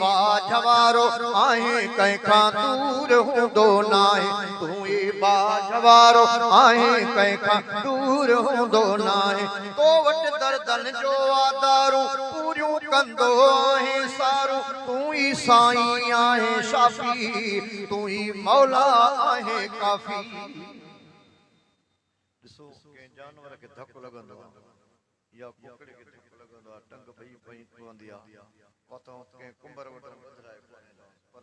ٻاجهه وارو آهين ڪنهن کان دور هوندو ناهي تون ئي ٻاجهه وارو آهين ڪنهن کان دور هوندو ناهي تو وٽ دردن جو آ دارون پوريون ڪندو آهين سارون تون ئي سائين آهين شافي تون ئي مولا آهين ڪافي. ڏسو ڪنهن جانور کي ڌڪ لڳندو آهي. يا ڪوڪڙي کي ڌڪ لڳندو آهي، ٽنگ ڀڄي پوندي آهي، اها ته آئون ڪنهن ڪنڀر وٽان ٻڌرائي ڪونهي لانس، پر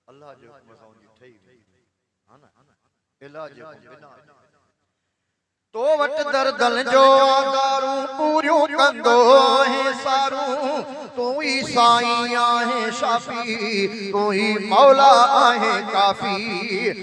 الله جي حڪم سان ان جي ٺهي ويندي آهي نه، علاج جي حڪم بنا آهي نه. تو وٽ دردن جو آڳارون پوريون ڪندو آهين سارون، تون ئي سائين آهين شافي، تون ئي مولا آهين ڪافي.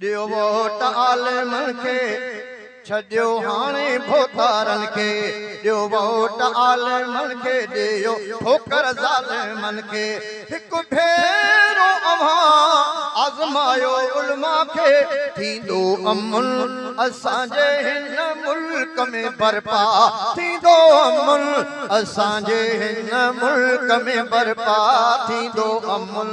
ڏيو ووٽ عالم کي ڇڏيو هاڻي ڀوتارن کي ڏيو ووٽ عالم کي ڏيو ٺوڪر ظالمن کي هڪ ڀيرو اوهان آزمايو علماء کي ٿيندو امن اسان جي هن ملڪ ۾ برپا ٿيندو امن اسان جي هن ملڪ ۾ برپا ٿيندو امن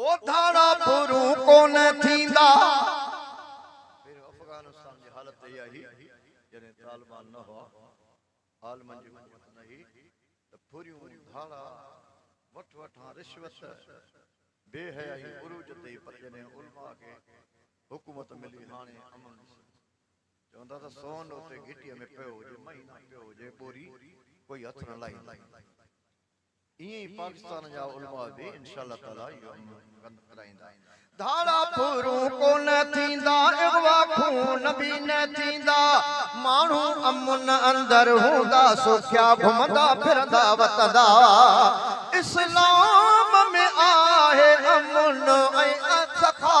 او ڌاڙا ڀورون ڪونه ٿيندا. پهريون افغانستان جي حالت هيء هئي، جڏهن طالبان نه هئا، عالمن جي حڪومت نه هئي ته ڀوريون، ڌاڙا، وٺ وٺان، رشوت، بي حيائي عروج تي هئي پر جڏهن علماء کي حڪومت ملي هاڻي امن ڏسو. چوندا ته سون اتي گهٽيء ۾ پيو هجي، مهينا پيو هجي، ٻوري ڪوئي هٿ نه لائيندو. ائين ئي پاڪستان جا علماء به انشاء الله تعالي اهو عمل بند ڪرائيندا. ڌاڙا ڦورون ڪونه ٿيندا، اغوا خون به نه ٿيندا، ماڻهو امن اندر هوندا، سوکيا گهمندا ڦرندا وتندا. اسلام ۾ آهي امن ۽ سخا.